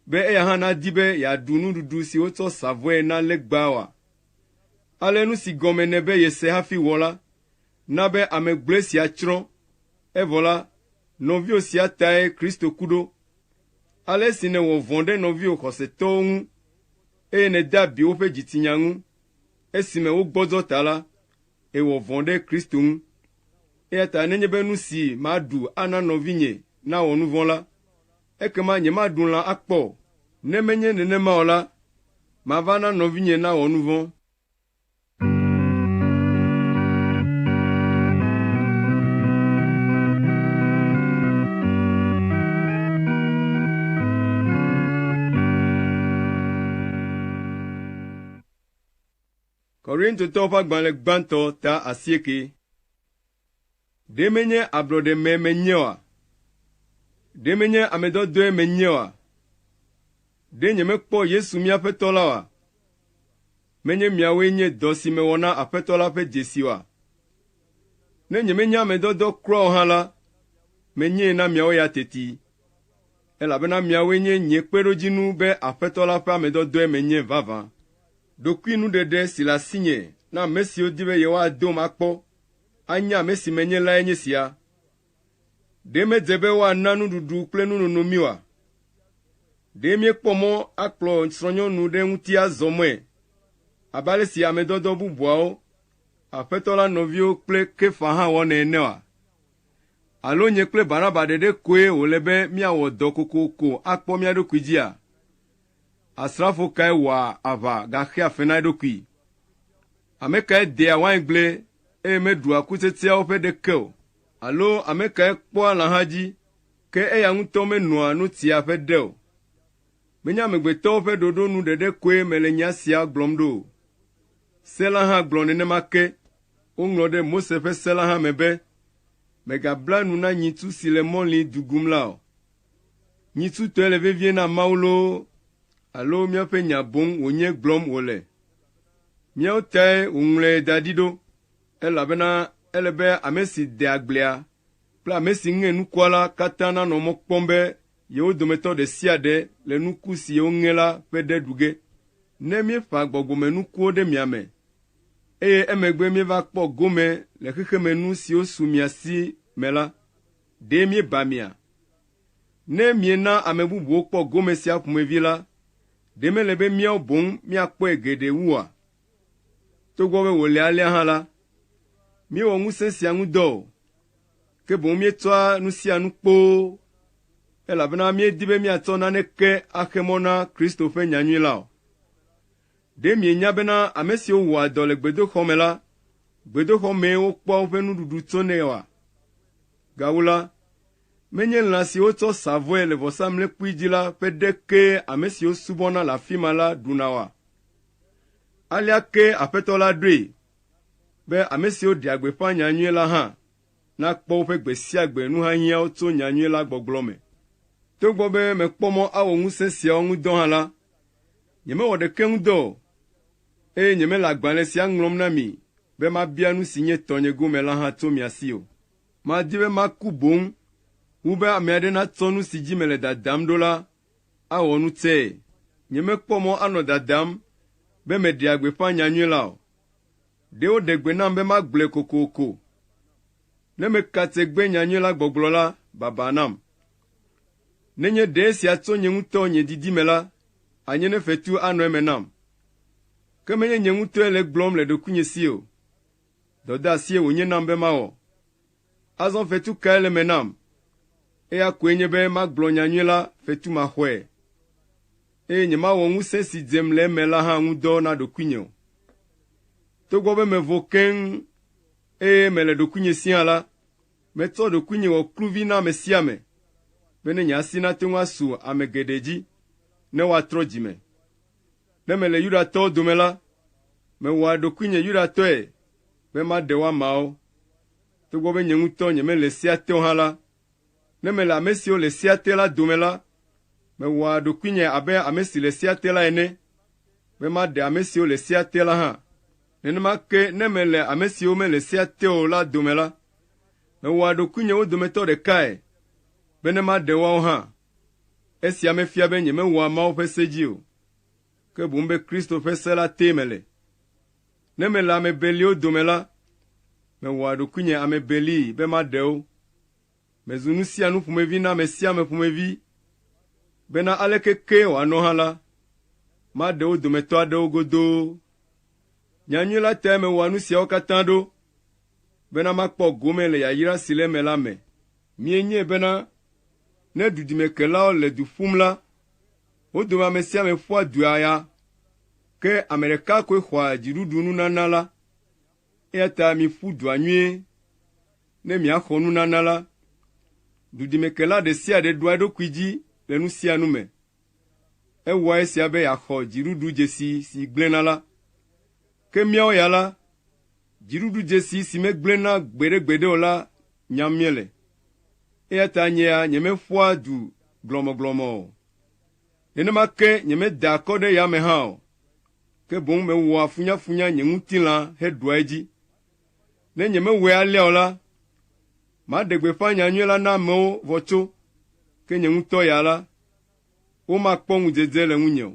be eya hã nadi be yeaɖu nuɖuɖu si wotsɔ sa vɔe na legba oa? Ale nu si gɔme nɛ be yese hafi wɔ la na be ame gblɔe sia tsrɔ̃. Evɔ la, nɔviwò sia tae Kristo ku ɖo. Ale esi nèwɔ vɔ̃ ɖe nɔviwò xɔsetɔwo ŋu, eye nède abi woƒe dzitsinya ŋu esime wogbɔdzɔ ta la, èwɔ vɔ̃ ɖe Kristo ŋu. Eya ta nenye be nu si maɖu ana nɔvinye nawɔ nu vɔ̃ la, Ekema nyemaɖu lã akpɔ o, ne menye nenema o la, mava na nɔvinye nawɔ nu vɔ̃. Korintotɔwo ƒe agbalẽ gbãtɔ ta asieke. Ɖe menye ablɔɖeme menye oa? Ɖe menye ame dɔdɔe menye oa? Ɖe nyemekpɔ Yesu mía Aƒetɔ la oa? Menye miawoe nye dɔ si mewɔ na Aƒetɔ la ƒe dzesi oa? Ne nyemenye ame dɔdɔ kura o hã la, menyee na miawo ya teti. elabena miawoe nye nye kpeɖodzinu be Aƒetɔ la ƒe ame dɔdɔe menye vavã. Ɖokuinuɖeɖe si le asinye na ame siwo di be yewoadom akpɔ anya ame si menye lae nye sia, Ɖe medze be woana nuɖuɖu kple nunono mí oa? Ɖe míekpɔ mɔ akplɔ srɔ̃nyɔnu ɖe ŋuti azɔ mɔe abe ale si ame dɔdɔ bubuawo, Aƒetɔ la nɔviwo kple Kefa hã wɔnɛ ene oa? Alo nye kple Barnaba ɖeɖe koe wòle be míawɔ dɔ kokoko akpɔ mía ɖokui dzia? Asrafo kae wɔa aʋa gaxea fe na eɖokui? Ame kae dea waingble eye meɖua kutsetseawo ƒe ɖeke o? Alo ame kae kpɔa lãha dzi, ke eya ŋutɔ menoa nu tsia ƒe ɖe o? Menye amegbetɔwo ƒe ɖoɖo nu ɖeɖe koe mele nya sia gblɔm ɖo o, Se la hã gblɔ nenema ke. Woŋlɔ ɖe Mose ƒe se la hã me be, Mègabla nu na nyitsu si le mɔli dugum la o. Nyitsu tɔe le vevie na Mawu loo alo míaƒe nya boŋ wònye gblɔm wòle. Míawo tae wòŋlɔe da ɖi ɖo, elabena ele be ame si dea agblea kple ame si ŋe nukua la katã nanɔ mɔ kpɔm be Yewo dometɔ ɖe sia ɖe le nuku si yewo ŋe la ƒe ɖe ɖu ge. Ne míeƒã gbɔgbɔmenukuwo ɖe mia me, eye emegbe míeva kpɔ gome le xexemenu siwo su mia si me la, ɖe míeba mia? Ne miena ame bubuwo kpɔ gome sia ƒomevi la, ɖe mele be míawo boŋ míakpɔe geɖe wua? Togbɔ be wòle alea hã la, míewɔ ŋusẽ sia ŋu dɔ o, ke boŋ míetsɔa nu sia nu kpoo, elabena míedi be míatsɔ naneke axe mɔ na Kristo ƒe nyanyui la o. Ɖe mienya bena ame siwo wɔa dɔ le gbedoxɔ me la, gbedoxɔ mee wokpɔa woƒe nuɖuɖu tsonɛ oa? Gawu la, menye lã siwo tsɔ sa vɔe le vɔsamlekpui dzi la ƒe ɖe kee ame siwo subɔna le afi ma la ɖuna oa? Alea ke Aƒetɔ la ɖoe be ame siwo ɖea gbeƒã nya nyui la hã nakpɔ woƒe gbe sia gbe nuhiahiãwo tso nya nyui la gbɔgblɔ me. Togbɔ be mekpɔ mɔ awɔ ŋusẽ siawo ŋu dɔ hã la, nyemewɔ ɖeke ŋu dɔ o, eye nyemele agbalẽ sia ŋlɔm na mi be mabia nu si nye tɔnye gome la hã tso mia si o. Madi be maku boŋ wu be ame aɖe natsɔ nu si dzi mele dadam ɖo la awɔ nu tsɛe. Nyemekpɔ mɔ anɔ dadam be meɖea gbeƒã nyanyui la o. Ɖe woɖe gbe nam be magblɔe kokoko. Ne meka tsegbe nyanyui la gbɔgblɔ la, baba nam. Nenye ɖe esia tso nye ŋutɔ nye didi me la, anye ne fetu anɔ eme nam. Ke menye nye ŋutɔe le egblɔm le ɖokuinye si o. Dɔdeasie wònye nam be mawɔ. Azɔ fetu kae le eme nam? Eya koe nye be magblɔ nya nyui la fetumaxɔe, eye nyemawɔ ŋusẽ si dzem le eme la hã ŋu dɔ na ɖokuinye o. Togbɔ be mevo keŋ eye mele ɖokuinye si hã la, metsɔ ɖokuinye wɔ kluvi na ame sia ame, be ne nye asi nate ŋu asu ame geɖe dzi ne woatrɔ dzi me. Ne mele Yudatɔwo dome la, mewɔa ɖokuinye Yudatɔe be maɖe wo ameawo. Togbɔ be nye ŋutɔ nyemele sea te o hã la, ne mele ame siwo le sea te la dome la, mewɔa ɖokuinye abe ame si le sea te la ene, be maɖe ame siwo le sea te la hã. Nenema ke ne mele ame siwo mele sea te o la dome la, mewɔa ɖokuinye wo dometɔ ɖekae, bene maɖe woawo hã. Esia mefia be nyemewɔa Mawu ƒe se dzi o, ke boŋ be Kristo ƒe se la tee mele. Ne mele ame beliwo dome la, mewɔa ɖokuinye ame belii be maɖe wo. Mezu nu sia nu ƒomevi na ame sia ame ƒomevi, bena aleke kee wòanɔ hã la, maɖe wo dometɔ aɖewo godoo. Nyanyui la tae mewɔa nu siawo katã ɖo, bena makpɔ gome le yayra si le eme la me. Mienyae bena ne dudimekelawo le du ƒum la, Wo dome ame sia ame ƒua du aya, ke ame ɖeka koe xɔa dziɖuɖu nunana la. Eya ta miƒu dua nyuie ne miaxɔ nunana la. Dudimekela ɖe sia ɖe ɖoa eɖokui dzi le nu sia nu me. Ewɔa esia be yeaxɔ dziɖuɖu dzesi si gblẽna la. Ke míawo ya la, dziɖuɖu dzesi si megblẽna gbeɖegbeɖe o la nyam míele. Eya ta nyea nyemeƒoa du glɔmɔglɔmɔ o. Nenema ke nyemedaa akɔ ɖe yame hã o, ke boŋ mewɔa funyafunya nye ŋutilã heɖua edzi. Ne nyemewɔe alea o la, maɖe gbeƒã nya nyui la na amewo vɔ tso, ke nye ŋutɔ ya la, womakpɔ ŋudzedze le ŋunye o.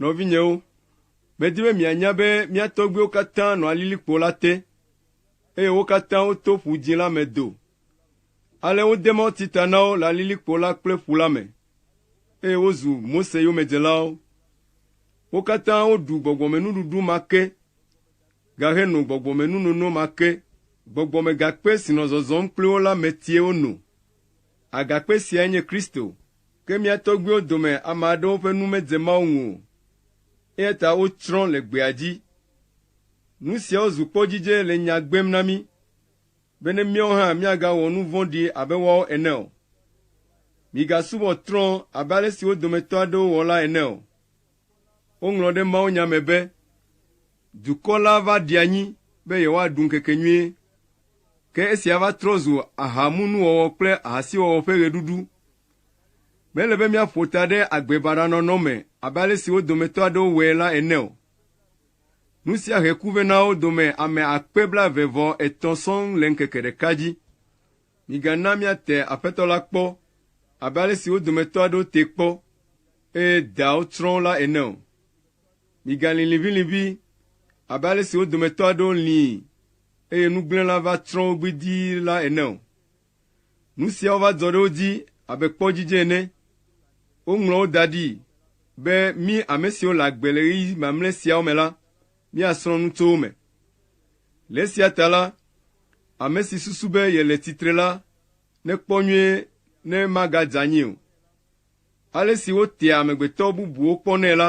Nɔvinyewo, medi be mianya be mía tɔgbuiwo katã nɔa lilikpo la te, eye wo katã woto Ƒu Dzĩ la me do. Ale wode mɔti ta na wo le lilikpo la kple ƒu la me, eye wozu Mose yomedzelawo. Wo katã woɖu gbɔgbɔmenuɖuɖu ma ke, gaheno gbɔgbɔmenunono ma ke. Gbɔgbɔmegakpe si nɔ zɔzɔm kpli wo la metie wono. Agakpe siae nye Kristo. Ke mía tɔgbuiwo dome ame aɖewo ƒe nu medze Mawu ŋu o, eya ta wotsrɔ̃ le gbea dzi. Nu siawo zu kpɔdzidze le nya gbem na mí be ne míawo hã míagawɔ nu vɔ̃ɖi abe woawo ene o. Migasubɔ trɔ̃ abe ale si wo dometɔ aɖewo wɔ la ene o. Woŋlɔ ɖe mawunya me be, Dukɔ la va ɖi anyi be yewoaɖu ŋkekenyuie. Ke esia va trɔ zu ahamunuwɔwɔ kple ahasiwɔwɔ ƒe ɣeɖuɖu. Mele be míaƒo ta ɖe agbe baɖa nɔnɔ me abe ale si wo dometɔ aɖewo wɔe la ene o. Nu sia he ku vɛ na wo dome ame akpe blaeve vɔ etɔ̃ sɔŋ le ŋkeke ɖeka dzi. Migana míate Aƒetɔ la kpɔ abe ale si wo dometɔ aɖewo tee kpɔ eye daawo tsrɔ̃ wo la ene o. Migalĩ liʋĩliʋĩ abe ale si wo dometɔ aɖewo lĩi eye nugblẽla va tsrɔ̃ wo gbidii la ene o. Nu siawo va dzɔ ɖe wo dzi abe kpɔ dzidze ene. Woŋlɔ wo da ɖi be, Mí ame siwo le agbe le ɣeyiɣi mamlɛ siawo me la, míasrɔ̃ nu tso wo me. Le esia ta la, ame si susu be yele tsitre la, nekpɔ nyuie ne magadze anyi o. Ale si wotea amegbetɔ bubuwo kpɔnɛ la,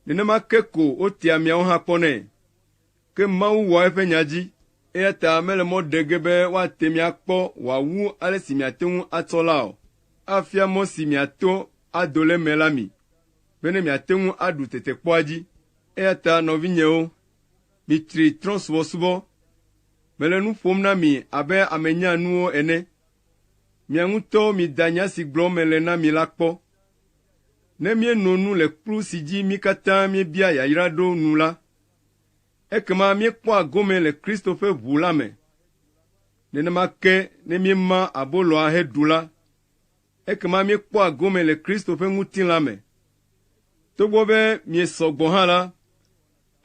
nenema ke ko wotea miawo hã kpɔnɛ. Ke Mawu wɔa eƒe nya dzi, eya ta mele mɔ ɖe ge be woate mi akpɔ wòawu ale si miate ŋu atsɔ la o. Afia mɔ si miato ado le eme la mi, bene miate ŋu aɖu tetekpɔa dzi. Eya ta nɔvinyewo, mitsri trɔ̃subɔsubɔ. Mele nu ƒom na mi abe ame nyaa nuwo ene. Mia ŋutɔwo mida nya si gblɔm mele na mi la kpɔ. Ne míeno nu le kplu si dzi mí katã míebia yayra ɖo nu la, ekema míekpɔa gome le Kristo ƒe ʋu la me. Nenema ke ne míema aboloa heɖu la, ekema míekpɔa gome le Kristo ƒe ŋutilã me. Togbɔ be miesɔ gbɔ hã la,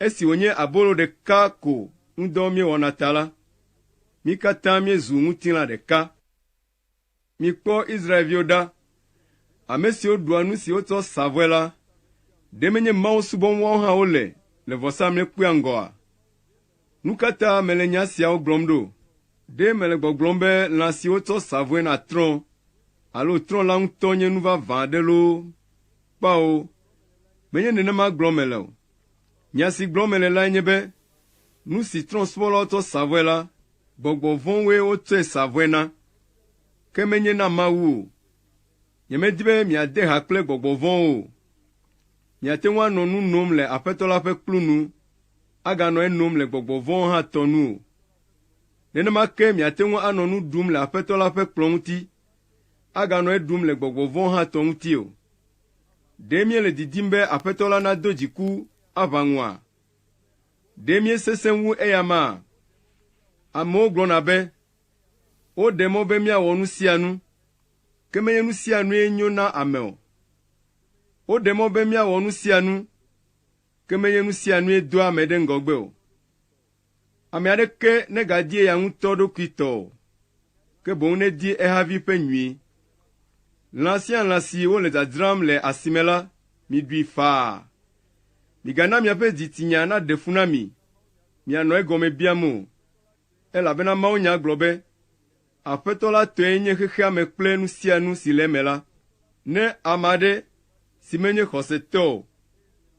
Esi wònye abolo ɖeka ko ŋudɔ míewɔna ta la, mí katã míezu ŋutilã ɖeka. Mikpɔ Israel-viwo ɖa, ame siwo ɖua nu si wotsɔ sa vɔe la, ɖe menye Mawu subɔm woawo hã wole le vɔsamlekpuia ŋgɔa? Nu ka ta mele nya siawo gblɔm ɖo? Ɖe mele gbɔgblɔm be lã si wotsɔ sa vɔe na trɔ̃ alo trɔ̃ la ŋutɔ nye nu vavã aɖe loo? Kpao, Menye nenema gblɔm mele o. Nya si gblɔm mele lae nye be nu si trɔ̃subɔlawo tsɔ sa vɔe la, gbɔgbɔ vɔ̃woe wotsɔe sa vɔe na, ke menye na Mawu o. Nyemedi be miade ha kple gbɔgbɔ vɔ̃wo o. Miate ŋu anɔ nu nom le Aƒetɔ la ƒe kplu nu, aganɔ enom le gbɔgbɔ vɔ̃wo hã tɔ nu o. Nenema ke miate ŋu anɔ nu ɖum le Aƒetɔ la ƒe kplɔ̃ ŋuti, aganɔ eɖum le gbɔgbɔ vɔ̃wo hã tɔ ŋuti o. Ɖe míele didim be Aƒetɔ la nado dziku aʋa ŋua? Ɖe míesesẽ wu eya amea? Amewo gblɔna be, Woɖe mɔ be míawɔ nu sia nu, ke menye nu sia nue nyo na ame o. Woɖe mɔ be míawɔ nu sia nu, ke menye nu sia nue doa ame ɖe ŋgɔgbe o. Ame aɖeke negadie ya ŋutɔ ɖokui tɔ o, ke boŋ nedie ehavi ƒe nyui. Lã sia lã si wole dzadzram le asime la, miɖui faa. Migana miaƒe dzitsinya naɖe fu na mi, mianɔ egɔme biam o, elabena mawunya gblɔ be, Aƒetɔ la tɔe nye xexea me kple nu sia nu si le eme la. Ne ame aɖe, si menye xɔsetɔ o,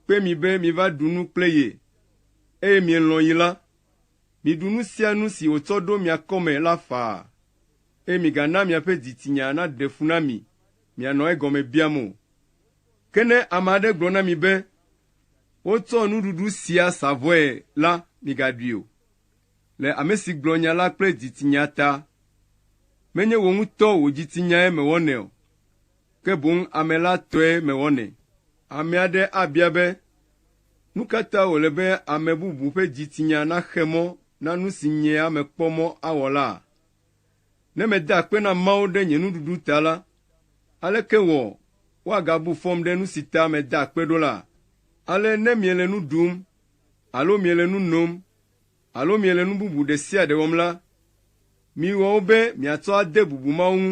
kpe mi be miva ɖu nu kple ye, eye mielɔ̃ yi la, miɖu nu sia nu si wòtsɔ ɖo mia kɔme la faa, eye migana miaƒe dzitsinya naɖe fu na mi mianɔ egɔme biam o. Ke ne ame aɖe gblɔ na mi be, Wotsɔ nuɖuɖu sia sa vɔe la, migaɖui o. le ame si gblɔ nya la kple dzitsinya ta. Menye wò ŋutɔ wò dzitsinyae mewɔnɛ o, ke boŋ ame la tɔe mewɔnɛ. Ame aɖe abia be, Nu ka ta wòle be ame bubu ƒe dzitsinya naxe mɔ na nu si nyea mekpɔ mɔ awɔ laa? Ne meda akpe na Mawu ɖe nye nuɖuɖu ta la, aleke wɔ woagabu fɔm ɖe nu si ta meda akpe ɖo laa? Ale ne miele nu ɖum alo miele nu nom alo miele nu bubu ɖe sia ɖe wɔm la, miwɔ wo be miatsɔ ade bubu mawo ŋu.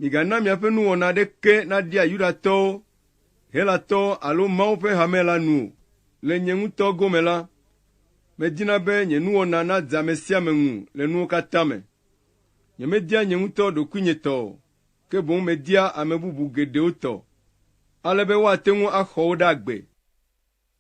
Migana miaƒe nuwɔna aɖeke naɖia Yudatɔwo, Helatɔwo alo Mawu ƒe hame la nu o. Le nye ŋutɔ gome la, medina be nye nuwɔna nadze ame sia ame ŋu le nuwo katã me. Nyemedia nye ŋutɔ ɖokuinye tɔ o, ke boŋ media ame bubu geɖewo tɔ, ale be woate ŋu axɔ wo ɖe agbe.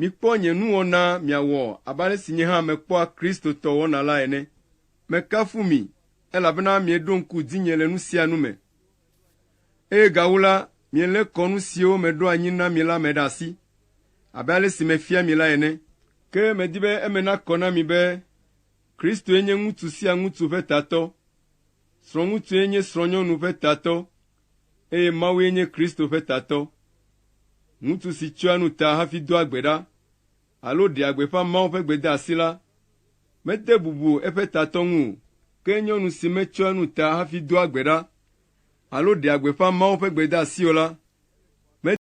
Mikpɔ nye nuwɔna miawɔ abe ale si nye hã mekpɔa Kristotɔ wɔna la ene. Mekafu mi, elabena mieɖo ŋku dzinye le nu sia nu me, eye gawu la, mielé kɔ nu siwo meɖo anyi na mi la me ɖe asi, abe ale si mefia mi la ene. Ke medi be eme nakɔ na mi be Kristoe nye ŋutsu sia ŋutsu ƒe tatɔ, srɔ̃ŋutsue nye srɔ̃nyɔnu ƒe tatɔ, eye Mawue nye Kristo ƒe tatɔ, ŋutsu si tsyɔa nu ta hafi doa gbe ɖa alo ɖea gbeƒã Mawu ƒe gbedeasi la, mede bubu eƒe tatɔ ŋu o. Ke nyɔnu si metsyɔa nu ta hafi doa gbe ɖa alo ɖea gbeƒã Mawu ƒe gbedeasi o la,